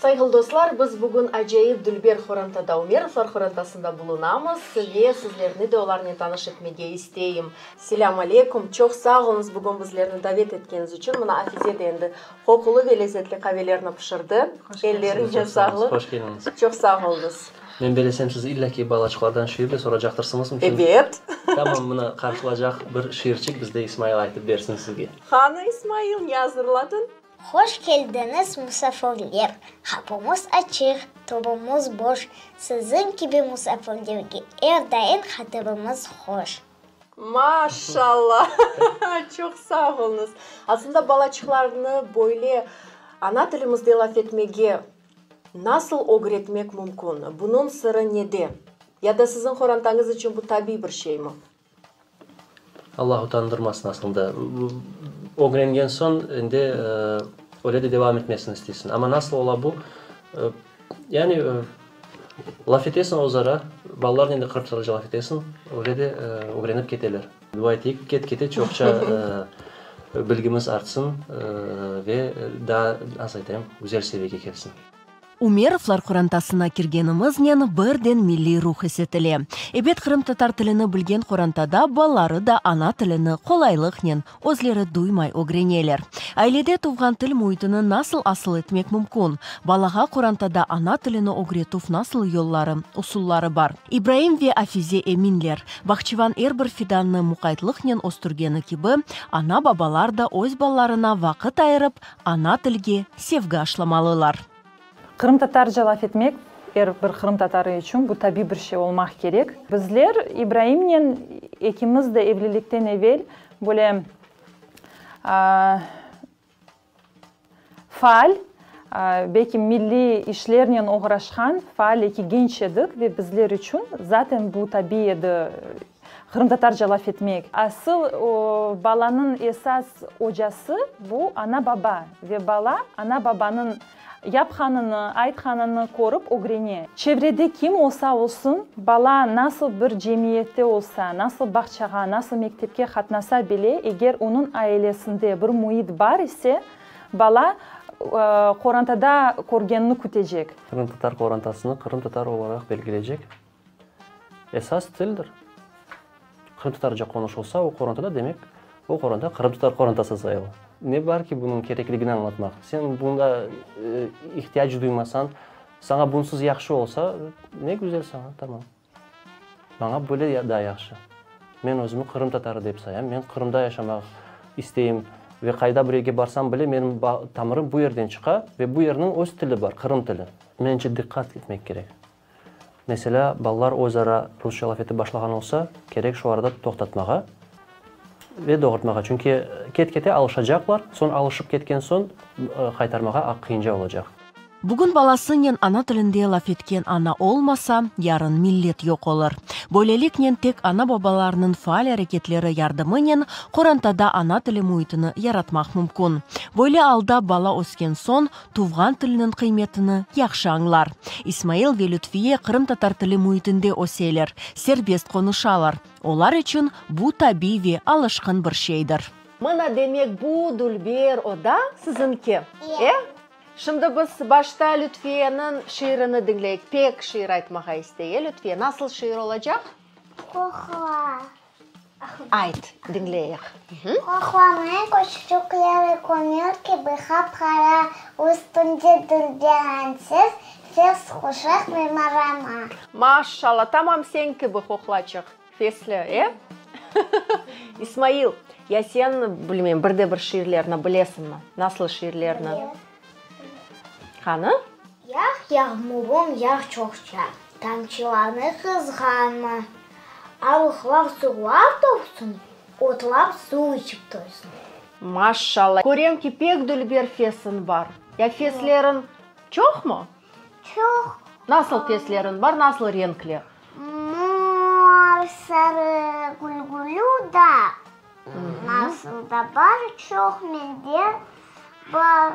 Sayğılı dostlar, biz bugün acayip dülber Horantada Umerovlar Horantasında bulunamız ve sizlerni de olarnen tanış etmege isteyim. Selâm aleykum, çoq sağ oluñız bugün bizlerni davet etkeñiz içün, mına Afize de endi qoqulı ve lezetli qavelerni pişirdi, elleriñe sağlıq. Hoş keldiñiz. Çoq sağ oluñız. Men belesem siz illa ki balaçıqlardan şiir de soracaqtırsıñız, onıñ içün. Ebet. Tamam, mına qarşılaycaq bir şiirçik bizde İsmail aytıp bersin sizge. Qanı İsmail, ne azırladın? Hoş keldiñiz, musafirler! Qapımız açıq, tobamız boş, Siziñ kibi musafirlerge er daim hatırımız hoş. Maşalla! Çoq sağ olunız! Aslında balaçıqlarnı böyle ana tilimizde laf etmege nasıl ögretmek mümkün? Bunıñ sırı nede? Ya da siziñ qorantañız içün bu tabiy bir şeymi? Allah utandırmasın aslında. Ögrengen soñ endi öyle de devam etmesini isteysiñ. Amma nasıl ola bu? Yani, laf etesiñ özara, balalarnen de qırpsalıcı laf etesiñ, öyle de ögrenip keteler. Dua eteyik, ket-kete çoqça bilgimiz artsın ve daa, nasıl aytayım, güzel seviyege kelsin. Ümerovlar qorantasına kirgenimiznen birden milliy ruh esetile. Ebet qırımtatar tilini bilgen qorantada balaları da ana tilini qolaylıqnen, özleri duymay ögreneler. Ailede tuvğan til müitini nasıl asıl etmek mümkün? Balağa qorantada ana tilini ögretuv nasıl yolları, usulları bar? İbraim ve Afize eminler, bağçıvan er bir fidannı muqaytlıqnen östürgeni kibi, ana-babalar da öz balalarına vaqıt ayırıp, Ana tilge sevgi aşlamalılar. Qırımtatarca laf etmek, er bir qırımtatarı içün bu tabiy bir şey olmaq kerek. Bizler İbraimnen ekimiz de evlilikten evel böyle faal, belki milliy işlernen oğraşqan faal eki genç edik ve bizler içün zaten bu tabiy edi. Qırımtatarca laf etmek. Asıl balanıñ esas ocası, bu ana-baba ve bala ana-babanıñ yapqanını, aytqanını körip ögrene. Çevrede kim olsa olsun, bala nasıl bir cemiyette olsa, nasıl bağçağa, nasıl mektepke qatnasa bile, eger onıñ ailesinde bir müit bar ise, bala qorantada körgenini kütecek. Qırımtatar qorantasını qırımtatar olaraq belgileycek. esas tildir. Qırımtatarca qonuşılsa o qorantada, demek, o qoranta qırımtatar qorantası sayıla. Ne bar ki, bunıñ kerekligini añlatmaq? Sen bunda ihtiyac duymasañ, saña bunsız yahşı olsa, ne güzel saña, tamam. Maña böyle daa yahşı. Men özümi qırımtatarı dep sayam, men Qırımda yaşamaq isteyim ve qayda bir yerge barsam bile, menim tamırım bu yerden çıqa ve bu yerniñ öz tili bar, qırım tili. Mence, diqqat etmek kerek. Meselâ, balalar öz ara rusça laf etip başlağan olsa, kerek şu arada toqtatmağa ve doğurtmağa. Çünki ket-kete alışacaqlar, soñ alışıp ketken soñ qaytarmağa aq qıyınca olacaq. Bugün balasınen ana tilinde laf etken ana olmasa, yarın millet yoq olur. Böyleliknen tek ana-babalarnıñ faal areketleri yardımınen qorantada ana tili müitini yaratmaq mümkün. Böyle alda bala ösken soñ, tuvğan tiliniñ qıymetini yahşı añlar. İsmail ve Lütfiye qırımtatar tili müitinde öseler, serbest qonuşalar. Olar içün bu tabiy ve alışqın bir şeydir. Mına, demek, bu dülber oda siziñki, e? Şimdi biz başta Lütfiyeniñ şiirini diñleyik. Pek, şiir aytmağa istey, e, Lütfiye? Nasıl şiir olacaq? Qohla. Ayt, diñleyik. Qoqlamaya köçücükleri kömür kibi qap-qara, üstünde dülde añsız, fes quşaq mimarama. Maşşalla, tamam señ kibi qoqlaçıq fesli, e? İsmail, ya sen, bilmeyim, bir de bir şiirlerni bilesiñmi? Nasıl şiirlerni? Qanı? Yağ, yağmurum yağ çoqça, tamçılarını qızğanma. Alıqlar sular topsun, otlar suv içip toysın. Maşşalla, körem ki, pek dülber fesiñ bar. Ya fesleriñ çoqmı? Çoq. Nasıl fesleriñ bar, nasıl renkler? Mor, sarı, gülgülü, dağ. Nasıl da bar, çoq mende bar.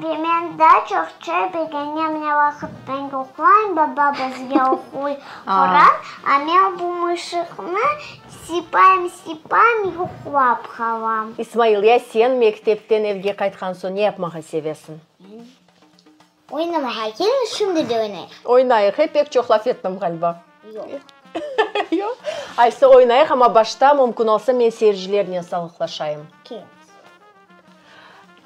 Ve men daa çoq çay begenem, ne vaqıttan ki oquyım, baba bizge oquy Quran, a men bu mışıqnı sipayım, sipayım, yuqlap qalam. İsmail, ya sen mektepten evge qaytqan soñ ne yapmağa sevesiñ? Oynamağa kel, şimdi de oynayıq. Oynayıq, e, pek çoq laf ettim ğaliba. Yoq. Yoq? Aysı, oynayıq, amma başta, mümkün olsa, men seyircilernen salıqlaşayım. Kel.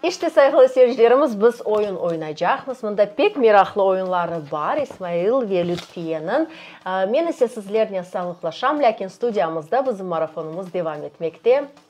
İşte, sayğılı seyircilerimiz, biz oyun oynaycaqmız. Mında pek meraqlı oyunları bar, İsmail ve Lütfiyeniñ. Men ise sizlernen salıqlaşam, lâkin studiyamızda bizim marafonımız devam etmekte.